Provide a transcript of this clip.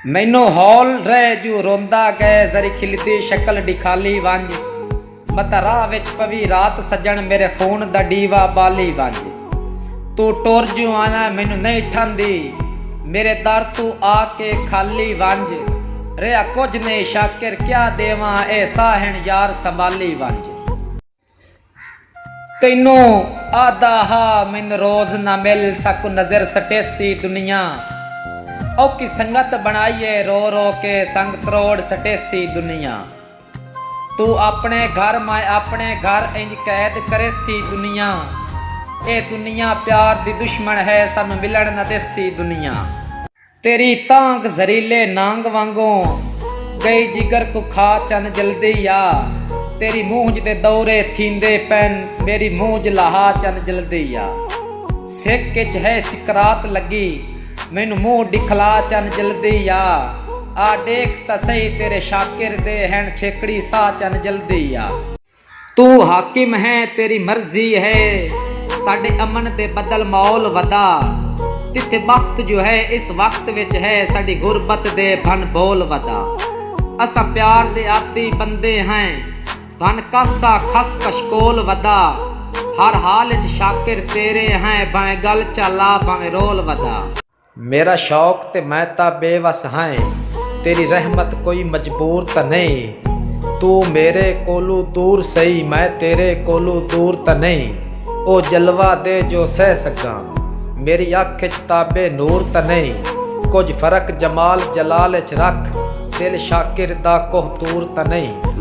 مینوں ہول رہ جو روندا گئے ذری کھلدی شکل ڈکھالی ونج متاں راہ وچ پوی رات سجن میرے خون دا ڈیوا بالی ونج توں ٹر جو آیا مینوں نہیں ٹھاندی میرے در توں آ کے کھالی ونج رہیا کجھ نہیں شاکر کیا ڈیواں اے ساہن یار سنبھالی ونج۔ تینوں آہدا ہا من روز نہ مل ساکوں نظر سٹیسی دنیا اوکھی سنگت بنڑائی اے رو رو کے سنگ تروڑ سٹیسی دنیا تو اپنے گھر میں اپنے گھر انج قید کریسی دنیا اے دنیا پیار دی دشمن ہے سانوں ملن نہ دیسی دنیا۔ تیݙی تانگھ زہریلے نانگ وانگوں ڳئی جگر کوں کھا چن جلدی آ تیݙی مونجھ دے دورے تھیندے پئن میݙی مونجھ لہا چن جلدی آ سک اچ ہے سکرات لڳی مینوں مونہہ ݙکھلا چن جلدی آ آ ݙیکھ تاں سہی تیݙے شاکر دے ہن چھیکڑی ساہ چن جلدی آ۔ توں حاکم ہیں تیری مرضی ہے ساڈے امن دے بدل ماحول ودا تیتھے بخت جو ہے اس وقت وچ ہے ساڈی غربت دے بھن بول ودا اساں پیار دے عادی بندے ہیں بھن کاسا کھس کشکول ودا ہر حال وچ شاکر تیرے ہیں بھائیں گل چا لا بھاویں رول ودا۔ میرا شوق تے میں تاں بے وس ہائیں تیری رحمت کوئی مجبور تاں نئیں توں میرے کولوں دور سئی میں تیرے کولوں دور تاں نئیں او جلوہ دے جو سہہ سگاں میری اکھ اچ تاب نور تاں نئیں کجھ فرق جمال جلال اچ رکھ دل شاکر دا کوہ طور تاں نئیں۔